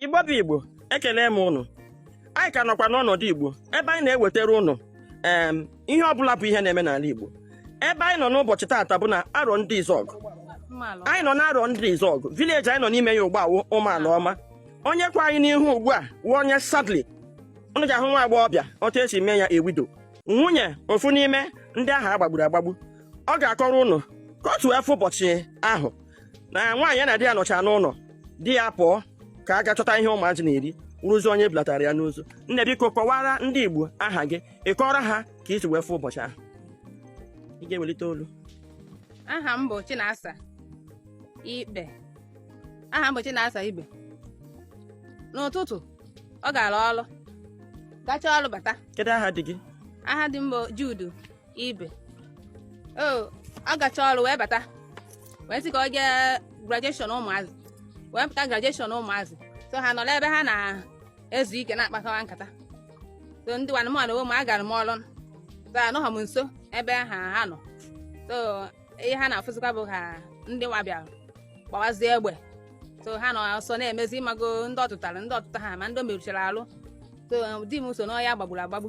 Igbo bụ Igbo ekele m ụnụ anyị ka nọkwa n'ọnọdụ Igbo ebe anyị na-ewetara ụnụ ee ihe ọbụla bụ ihe na-eme n'ala Igbo ebe anyị nọ n'ụbọchị taata bụ na Arọndizuọgụ anyị nọ n'Arọndizuọgụ village anyị nọ n'ime ya ugbu a wụ Ụmụalaọma onye kwụ anyị n'ihu ugbu a wụ onye sadly ụnụ ga-ahụ nwa agbọghọbịa otu e si mee ya a widow nwunye ofu n'ime ndị ahụ a gbagburu agbagbu ọ ga-akọrọ ụnụ ka o si wee fụ ụbọchị ahụ na nwaanyị ya na di ya nọchaa n'ụlọ di ya pụọ ka a gaa chọta ihe ụmụazị na-eri wụrụzi onye e bulatara ya n'ozu nne biko kọwaara ndị Igbo aha gị ị kọọrọ ha ka i si wee fụ ụbọchị ahụ ị ga-ewelite olu aha m bụ Chinasa Ikpe aha m bụ Chinasa Ikpe n'ụtụtụ ọ gara ọrụ gachaa ọrụ bata kedu aha di gị aha di m bụ Jude Ibe o ọ gachaa ọrụ wee bata wee sị ka o jee graduation ụmụazị wee pụta graduation ụmụazị so ha nọrọ ebe ha na-ezu ike na-akpakwa nkata so ndị nwanne m nwanne m agara m ọrụ so anọghọ m nso ebe ha ha nọ so ihe ha na-afụzikwa bụ ha ndị nwa bịara gbawazie egbe so ha nọ ọsọ na-emezi ị mago ndị ọ tụtara ndị ọ tụtaha ma ndị o merụchara ahụ so di m so n'onye a gbagburu agbagbu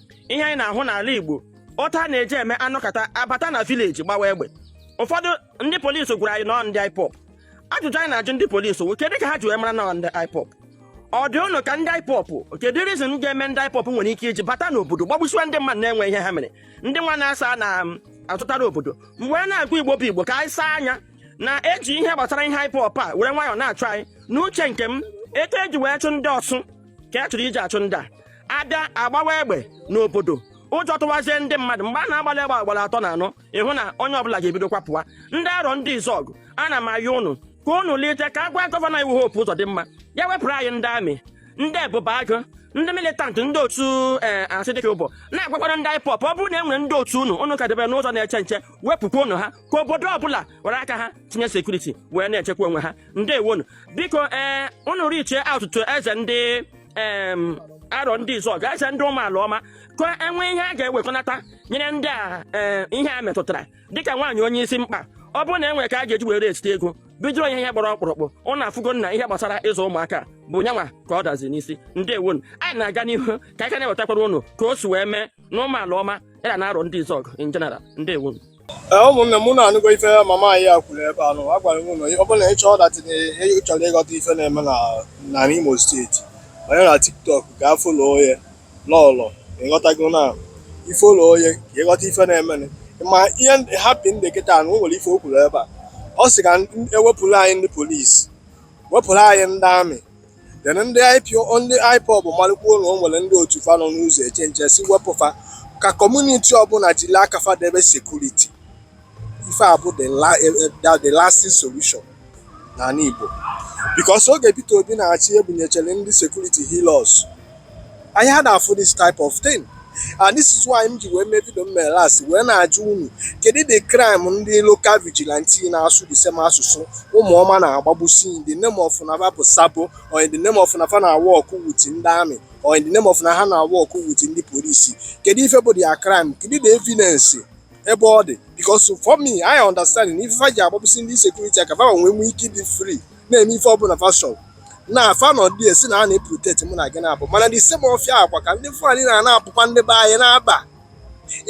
ihe anyị na-ahụ n'ala Igbo otu a na-eji eme a nọkata a bata na village gbawa egbe ụfọdụ ndị polisi gwara anyị na ọ ndị IPOB ajụjụ anyị na-ajụ ndị polisi wụ kedu ka ha ji wee mara na ọ ndị IPOB ọ dị ụnụ ka ndị IPOB kedu reason ga-eme ndị IPOB nwere ike iji bata n'obodo gbagbusiwa ndị mmadụ na-enwe ihe ha mere ndị nwa na-asa na um, azụtara obodo mgbe a na-agụ igbo bụ igbo ka anyị saa anya na e ji ihe gbasara ihe IPOB a were nwayọọ na-achụ anyị n'uche nke m etu e ji wee chụ ndị Ọsụ ka a chọrọ iji achụ ndị a a bịa a gbawa egbe n'obodo ụjọ tụwazie ndị mmadụ mgbe a na-agbalị egbe agbara atọ na anọ ị hụ na onye ọbụla ga-ebido kwapụwa ndị Arọndizuọgụ ana m ayọ ụnụ ka ụnụ lite ka a gwa gọvanọ anyị wụ Hope Ụzọdịmma ya wepụrụ anyị ndị army ndị Ebube Agụ ndị militant ndị otu ee eh, Asari Dokubo na-agwakwara ndị IPOB ọ bụrụ na e nwere ndị otu unu unu ka debere n'ụzọ na-eche nche wepụkwa unu ha ka obodo ọbụla were aka ha tinye security wee na-echekwa onwe ha ndewonu biko ee eh, unu reachie out to eze ndị Arọndizuọgụ eze ndị Ụmụalaọma ka e nwee ihe a ga-ewekọnata nyere ndị a eh, ihe a metụtara dịka nwaanyị onye isi mkpe ọ bụrụ na e nwere ka a ga-eji wee raisite ego bidoro ya ihe gbara ọkpụrụkpụ ụnụ afụgo na ihe gbasara ịzụ ụmụaka bụ nyanwa ka ọ dazi n'isi ndewonu anyị na-aga n'ihu ka anyị ka na-ewetakwara ụnụ ka o si wee mee na Ụmụalaọma area na Arọndizuọgụ in general ndewonu ee ụmụnne m ụnụ anụgo ife mama anyị a kwuru ebe anụ agwara m ụnụ ọ bụrụ na ị chọọ that ị chọrọ ịghọta ife na-eme na na Imo State onye na TikTok gaa follow onye lọlọ ị ghọtago na i follow onye ka ị ghọta ife na-eme ma ihe hapụ ndị kịta na o nwere ife o kwuru ebe a ọ sị ka e wepụrụ anyị ndị polisi wepụrụ anyị ndị army then ndị IPO ndị IPOB malụkwuo na o nwere ndị otu fa nọ n'ụzọ eche nche si wepụ fa ka kọmuniti ọbụla jiri aka fa debe sekuriti ife a bụ the la- eh, eh, the- the lasting solution n'ala Igbo because oge Peter Obi na-achị ebunyechere ndị sekuriti Hilux anyị ada afụ this type of thing and this is why m ji wee mee vidio m mere last wee na-ajụ unu kedu the crime ndị local vigilante na-asụ the same asụsụ ụmụọma na-agbagbusi in the name of na ọ bụ sabo or in the name of na fa na-work with ndị army or in the name of na ha na-work with ndị polisi kedu ife bụ their crime kedu the evidence ebe ọ dị because for me I understand na ife fa ji agbagbusi ndị security ọ ka fa wee nwee ike ịdị free na-eme ife ọbụla fa chọ na fa nọ dị a sị na a na-eproteti mụ na gị na bush mana the same ọfịa a kwa ka ndị Fulani nọ na-akpụkwa ndị be anyị na-aba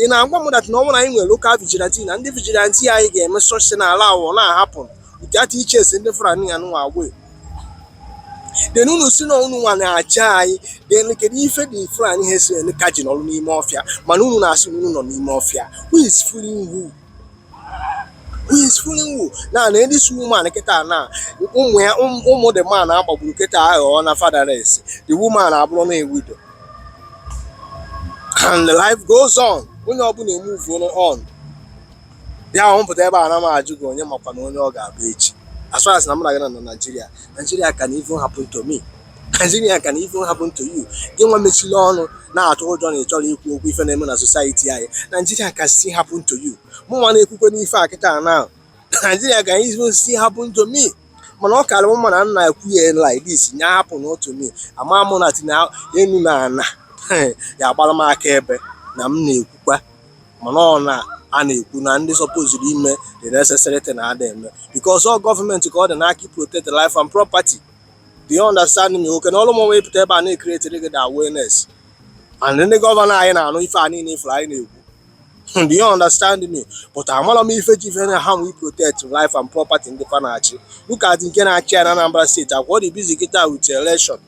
ị na-agwa m dat na ọ bụrụ na anyị nwere lokal vigilanti na ndị vigilanti anyị ga-eme search na ala awọ na-ahapụ nkịta ịchụsị ndị Fulani ya nụwa away den unu sị na unu nwa na-achị anyị den kedu ife ndị Fulani herdsmen ka ji nọrọ n'ime ọfịa mana unu na-asị na unu nọ n'ime ọfịa who is fooling who who is fooling who na na this woman kịta na ụmụ ya ụmụ the man a gbagburu kịta aghọọna fatherless the woman abụrụna a widow and the life goes on onye ọbụla emove on ya ahụ m pụta ebe a ana m ajụ gị onye makwanụ onye ọ ga-abụ echi as far as na mụ na gị nọ na Nigeria Nigeria can even happen to me Naijiria can even happen to you gị nwa mechiri ọnụ na-atụ ụjọ na ị chọrọ ikwu okwu ife na-eme na society anyị Naijiria can still happen to you mụ nwa na-ekwukwanụ ife a kịta na Naijiria can even still happen to me mana ọ karị mma na m na-ekwu ya like this nya happen to me ama mụ na tinye enu na ana ya-agbara m akaebe na m na-ekwukwa mana ọ na a na-ekwu na ndị sọpoziri ime the necessary thing na ada eme because ọ gọọmenti ka ọ dị n'aka protect life and property do you understand me okay na ọrụ mụnwa ịpụta ebe a na-ecreatiri gị the awareness and ndị gọvanọ anyị na-anụ ife a niile ifuru anyị na-ekwu Hmm, do you understand me but amara m ife ji ife na ha we protect life and property ndị fa na-achị look at nke na-achị anyị na Anambra steeti a kwa dị busy kịta with election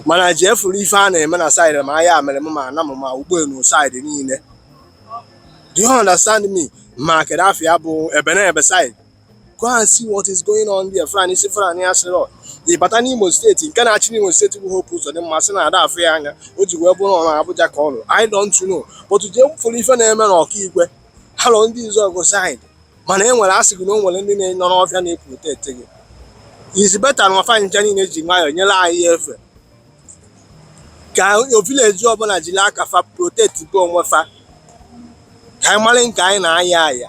mana jee fụrụ ife a na-eme na saịdị ma Ayamelum ma Anam ma Ugbenu saịdị niile do you understand me ma kedụ afa ya bụ Ebenebe saịdị go and see what is going on there Fulanis Fulani ya sịrị ịbata n'Imo steeti nke na-achị n'Imo steeti bụ Hope Uzodimma sị na ada afụ ya anya o ji wee bụrụ na Abuja ka ọ nọ I don't know but jee fụrụ ife na-eme na Okigwe Arondizuogu side mana e nwere asị gị na o nwere ndị nọ n'ọfịa na-eproteti gị is better na fa ncha niile ji nwayọọ nyere anyị efe ka vileji ọbụla jiri aka fa protetibe onwe fa ka anyị mara nke anyị na-aya aya